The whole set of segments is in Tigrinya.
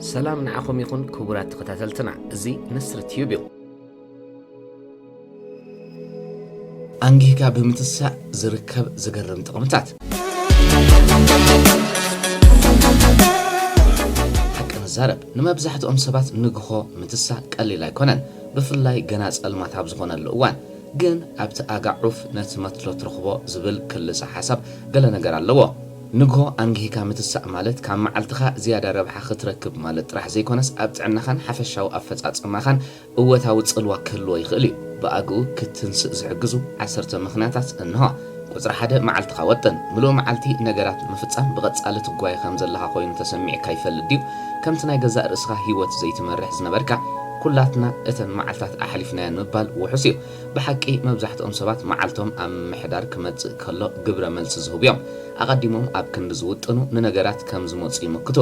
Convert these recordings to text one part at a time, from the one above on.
ሰላም ንዓኹም ይኹን ክቡራት ተኸታተልትና እዚ ንስሪ ትዩብ እዩ ኣንጊህካ ብምትሳእ ዝርከብ ዝገርም ጥቕምታት ሓቂ ንዛረብ ንመብዛሕትኦም ሰባት ንግሆ ምትሳእ ቀሊል ኣይኮነን ብፍላይ ገና ጸልማት ኣብ ዝኾነሉ እዋን ግን ኣብቲ ኣጋ ዑፍ ነቲ መትሎ ትረኽቦ ዝብል ክልሰ ሓሳብ ገለ ነገር ኣለዎ። ንግሆ ኣንጊህካ ምትሳእ ማለት ካብ መዓልትኻ ዝያዳ ረብሓ ክትረክብ ማለት ጥራሕ ዘይኮነስ ኣብ ጥዕናኻን ሓፈሻዊ ኣፈጻጽማኻን እወታዊ ጽልዋ ክህልዎ ይኽእል እዩ። ብኣግኡ ክትትንስእ ዝሕግዙ ዓሰርተ ምኽንያታት እንሆ። ቁጽሪ ሓደ መዓልትኻ ወጥን። ምሉእ መዓልቲ ነገራት ንምፍጻም ብቐጻሊ ትጓየ ከም ዘለኻ ኮይኑ ተሰሚዕካ ይፈልጥ ድዩ? ከምቲ ናይ ገዛእ ርእስኻ ህይወት ዘይትመርሕ ዝነበርካ፣ ኵላትና እተን መዓልታት ኣሕሊፍናየን ምባል ውሑስ እዩ። ብሓቂ መብዛሕትኦም ሰባት መዓልቶም ኣብ ምምሕዳር ክመጽእ ከሎ ግብረ መልሲ ዝህቡ እዮም። ኣቐዲሞም ኣብ ክንዲ ዝውጥኑ ንነገራት ከም ዝመጹ ይምክቱ።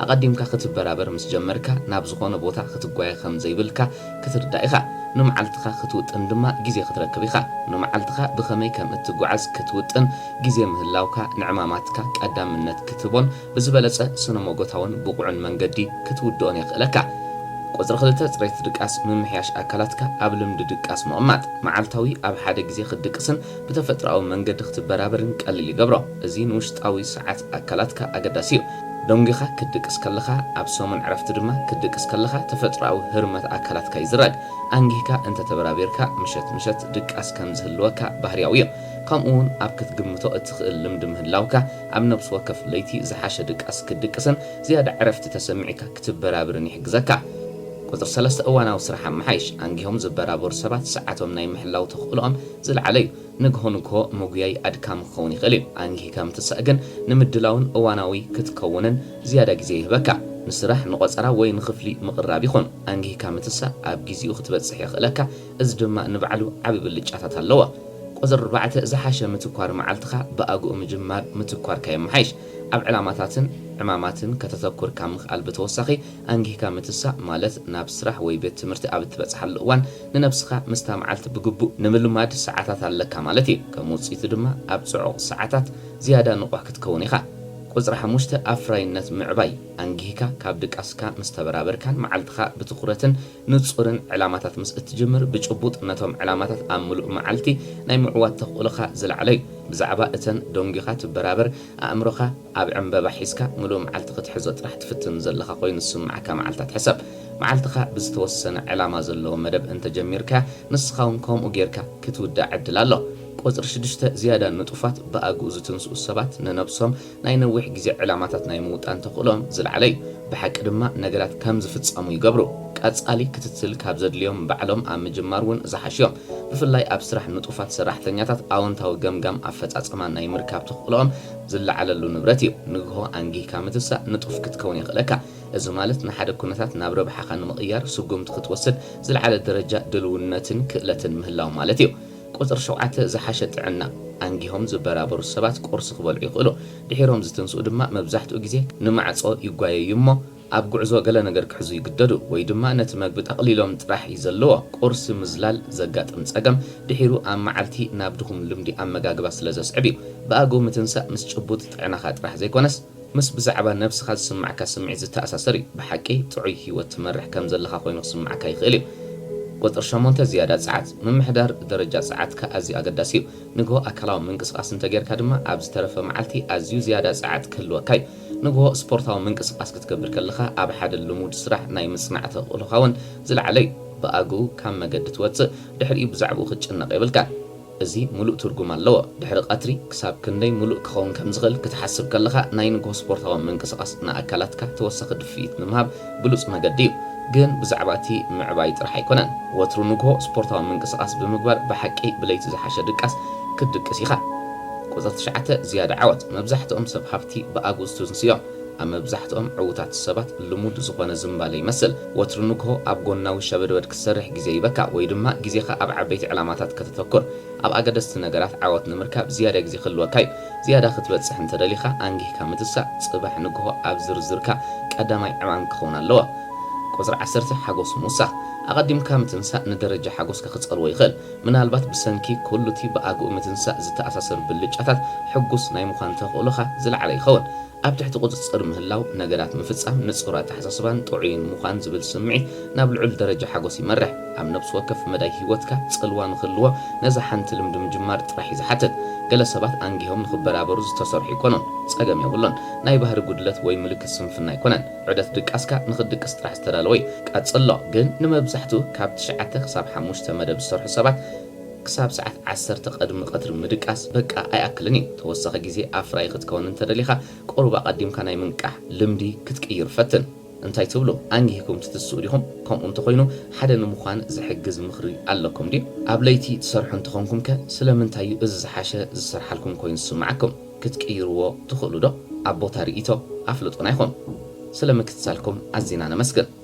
ኣቐዲምካ ክትበራበር ምስ ጀመርካ ናብ ዝኾነ ቦታ ክትጓየ ከም ዘይብልካ ክትርዳእ ኢኻ። ንመዓልትኻ ክትውጥን ድማ ግዜ ክትረክብ ኢኻ። ንመዓልትኻ ብኸመይ ከም እትጓዓዝ ክትውጥን ግዜ ምህላውካ ንዕማማትካ ቀዳምነት ክትህቦን ብዝበለጸ ስነ-ሞጎታውን ብቑዕን መንገዲ ክትውድኦን የኽእለካ። ቁጽሪ ክልተ ጽሬት ድቃስ ምምሕያሽ ኣካላትካ ኣብ ልምዲ ድቃስ ምቕማጥ። መዓልታዊ ኣብ ሓደ ግዜ ክትድቅስን ብተፈጥሮኣዊ መንገዲ ክትበራበርን ቀሊል ይገብሮ። እዚ ንውሽጣዊ ሰዓት። ኣካላትካ ኣገዳሲ እዩ። ደንጒኻ ክትድቅስ ከለኻ፣ ኣብ ሰሙን ዕረፍቲ ድማ ክትድቅስ ከለኻ ተፈጥሮኣዊ ህርመት ኣካላትካ ይዝረግ። ኣንጊህካ እንተ ተበራቢርካ ምሸት ምሸት ድቃስ ከም ዝህልወካ ባህርያዊ እዩ። ከምኡ'ውን ኣብ ክትግምቶ እትኽእል ልምዲ ምህላውካ ኣብ ነብሲ ወከፍ ለይቲ ዝሓሸ ድቃስ ክትድቅስን ዝያዳ ዕረፍቲ ተሰሚዕካ ክትበራብርን ይሕግዘካ። ቁጽሪ ሰለስተ እዋናዊ ስራሕ ኣመሓይሽ። ኣንጊሆም ዝበራበሩ ሰባት ሰዓቶም ናይ ምሕላው ተኽእሎኦም ዝለዓለ እዩ። ንግሆ ንግሆ ምጉያይ ኣድካሚ ክኸውን ይኽእል እዩ። ኣንጊህካ ምትሳእ ግን ንምድላውን እዋናዊ ክትከውንን ዝያዳ ግዜ ይህበካ። ንስራሕ፣ ንቖጸራ ወይ ንኽፍሊ ምቕራብ ይኹን፣ ኣንጊህካ ምትሳእ ኣብ ግዜኡ ክትበጽሕ የኽእለካ፣ እዚ ድማ ንባዕሉ ዓቢ ብልጫታት ኣለዎ። ቁጽሪ ኣርባዕተ ዝሓሸ ምትኳር መዓልትኻ ብኣግኡ ምጅማር ምትኳርካ የመሓይሽ። ኣብ ዕላማታትን ዕማማትን ከተተኩር ካብ ምኽኣል ብተወሳኺ፣ ኣንጊህካ ምትሳእ ማለት ናብ ስራሕ ወይ ቤት ትምህርቲ ኣብ እትበጽሓሉ እዋን ንነብስኻ ምስታ መዓልቲ ብግቡእ ንምልማድ ሰዓታት ኣለካ ማለት እዩ። ከም ውጽኢቱ ድማ ኣብ ጽዑቕ ሰዓታት ዝያዳ ንቑሕ ክትከውን ኢኻ። ቁጽሪ ሓሙሽተ ኣፍራይነት ምዕባይ፣ ኣንጊህካ ካብ ድቃስካ ምስ ተበራበርካን መዓልትኻ ብትኹረትን ንጹርን ዕላማታት ምስ እትጅምር ብጭቡጥ ነቶም ዕላማታት ኣብ ምሉእ መዓልቲ ናይ ምዕዋት ተኽእሎኻ ዝለዓለ እዩ። ብዛዕባ እተን ደንጒኻ ትበራበር ኣእምሮኻ። ኣብ ዕምበባ ሒዝካ ምሉእ መዓልቲ ክትሕዞ ጥራሕ ትፍትን ዘለኻ ኮይኑ ዝስምዓካ መዓልታት ሕሰብ። መዓልትኻ ብዝተወሰነ ዕላማ ዘለዎ መደብ እንተ ጀሚርካያ ንስኻውን ከምኡ ጌርካ ክትውድኣ ዕድል ኣሎ። ቁጽሪ ሽዱሽተ ዝያዳ ንጡፋት ብኣግኡ ዝትንስኡ ሰባት ንነብሶም ናይ ነዊሕ ግዜ ዕላማታት ናይ ምውጣን ተኽእሎኦም ዝለዓለ እዩ። ብሓቂ ድማ ነገራት ከም ዝፍጸሙ ይገብሩ። ቀጻሊ ክትትል ካብ ዘድልዮም ባዕሎም ኣብ ምጅማር እውን ዝሓሹ እዮም። ብፍላይ ኣብ ስራሕ ንጡፋት ሰራሕተኛታት ኣወንታዊ ገምጋም ኣፈጻጽማ ናይ ምርካብ ተኽእሎኦም ዝለዓለሉ ንብረት እዩ። ንግሆ ኣንጊህካ ምትሳእ ንጡፍ ክትከውን የኽእለካ። እዚ ማለት ንሓደ ኩነታት ናብ ረብሓኻ ንምቕያር ስጉምቲ ክትወስድ ዝለዓለ ደረጃ ድልውነትን ክእለትን ምህላው ማለት እዩ። ቁጽሪ ሸውዓተ ዝሓሸ ጥዕና። ኣንጊሆም ዝበራበሩ ሰባት ቁርሲ ክበልዑ ይኽእሉ። ድሒሮም ዝትንስኡ ድማ መብዛሕትኡ ግዜ ንማዕጾ ይጓየዩ እሞ ኣብ ጉዕዞ ገለ ነገር ክሕዙ ይግደዱ ወይ ድማ ነቲ መግቢ ጠቕሊሎም ጥራሕ እዩ ዘለዎ። ቁርሲ ምዝላል ዘጋጥም ጸገም ድሒሩ ኣብ መዓልቲ ናብ ድኹም ልምዲ ኣመጋግባ ስለ ዘስዕብ እዩ። ብኣግኡ ምትንሳእ ምስ ጭቡጥ ጥዕናኻ ጥራሕ ዘይኮነስ ምስ ብዛዕባ ነብስኻ ዝስምዓካ ስምዒት ዝተኣሳሰር እዩ። ብሓቂ ጥዑይ ህይወት ትመርሕ ከም ዘለኻ ኮይኑ ክስምዓካ ይኽእል እዩ። ቁጽሪ ሸሞንተ፣ ዝያዳ ጸዓት። ምምሕዳር ደረጃ ጸዓትካ ኣዝዩ ኣገዳሲ እዩ። ንግሆ ኣካላዊ ምንቅስቓስ እንተጌርካ ድማ ኣብ ዝተረፈ መዓልቲ ኣዝዩ ዝያዳ ጸዓት ክህልወካ እዩ። ንግሆ ስፖርታዊ ምንቅስቓስ ክትገብር ከለኻ ኣብ ሓደ ልሙድ ስራሕ ናይ ምጽናዕ ተኽእሎኻ እውን ዝለዓለ እዩ። ብኣግኡ ካብ መገዲ ትወጽእ፣ ድሕሪኡ ብዛዕባኡ ክትጭነቕ የብልካን። እዚ ምሉእ ትርጉም ኣለዎ። ድሕሪ ቀትሪ ክሳብ ክንደይ ምሉእ ክኸውን ከም ዝኽእል ክትሓስብ ከለኻ፣ ናይ ንግሆ ስፖርታዊ ምንቅስቓስ ንኣካላትካ ተወሳኺ ድፍኢት ንምሃብ፣ ብሉጽ መገዲ እዩ። ግን ብዛዕባ እቲ ምዕባይ ጥራሕ ኣይኮነን። ወትሩ ንግሆ ስፖርታዊ ምንቅስቓስ ብምግባር ብሓቂ ብለይቲ ዝሓሸ ድቃስ ክትድቅስ ኢኻ። ቁጽሪ ትሽዓተ ዝያዳ ዓወት። መብዛሕትኦም ሰብ ሃብቲ ብኣግኡ ዝትንሱ እዮም። ኣብ መብዛሕትኦም ዕዉታት ሰባት ልሙድ ዝኾነ ዝምባለ ይመስል። ወትሩ ንግሆ ኣብ ጎናዊ ሸበድበድ ክትሰርሕ ግዜ ይህበካ ወይ ድማ ግዜኻ ኣብ ዓበይቲ ዕላማታት ከተተኩር። ኣብ ኣገደስቲ ነገራት ዓወት ንምርካብ ዝያዳ ግዜ ክህልወካ እዩ። ዝያዳ ክትበጽሕ እንተ ደሊኻ ኣንጊህካ ምትሳእ ጽባሕ ንግሆ ኣብ ዝርዝርካ ቀዳማይ ዕማም ክኸውን ኣለዎ። ቁጽሪ ዓሰርተ ሓጎስ ምውሳኽ። ኣቐዲምካ ምትንሳእ ንደረጃ ሓጎስካ ክጸልዎ ይኽእል። ምናልባት ብሰንኪ ኩሉ'ቲ ብኣግኡ ምትንሳእ ዝተኣሳሰር ብልጫታት ሕጉስ ናይ ምዃን ተኽእሎኻ ዝለዓለ ይኸውን። ኣብ ትሕቲ ቁጽጽር ምህላው፣ ነገራት ምፍጻም፣ ንጹር ኣተሓሳስባን ጥዑይን ምዃን ዝብል ስምዒት ናብ ልዑል ደረጃ ሓጎስ ይመርሕ። ኣብ ነብሲ ወከፍ መዳይ ህይወትካ ጽልዋ ንኽህልዎ ነዛ ሓንቲ ልምዲ ምጅማር ጥራሕ እዩ ዝሓትት። ገለ ሰባት ኣንጊሆም ንኽበራበሩ ዝተሰርሑ ኣይኮኑን። ጸገም የብሉን። ናይ ባህሪ ጉድለት ወይ ምልክት ስንፍና ኣይኮነን። ዑደት ድቃስካ ንኽትድቅስ ጥራሕ ዝተዳለወ እዩ። ቀጽሎ። ግን ንመብዛሕትኡ ካብ ትሽዓተ ክሳብ ሓሙሽተ መደብ ዝሰርሑ ሰባት፣ ክሳብ ሰዓት ዓሰርተ ቐድሚ ቐትሪ ምድቃስ በቃ ኣይኣክልን እዩ። ተወሳኺ ግዜ ኣፍራዪ ክትከውን እንተደሊኻ ቁሩብ ኣቐዲምካ ናይ ምንቃሕ ልምዲ ክትቅይር ፈትን። እንታይ ትብሉ? ኣንጊህኩም ትትስኡ ዲኹም? ከምኡ እንተኾይኑ ሓደ ንምዃን ዝሕግዝ ምኽሪ ኣለኩም ድዩ? ኣብ ለይቲ ትሰርሑ እንተኾንኩምከ ስለምንታይ እዩ እዚ ዝሓሸ ዝሰርሓልኩም ኮይኑ ዝስምዓኩም? ክትቅይርዎ ትኽእሉዶ? ኣብ ቦታ ርኢቶ ኣፍልጡና ኢኹም። ስለ ምክትታልኩም ኣዚና ነመስግን።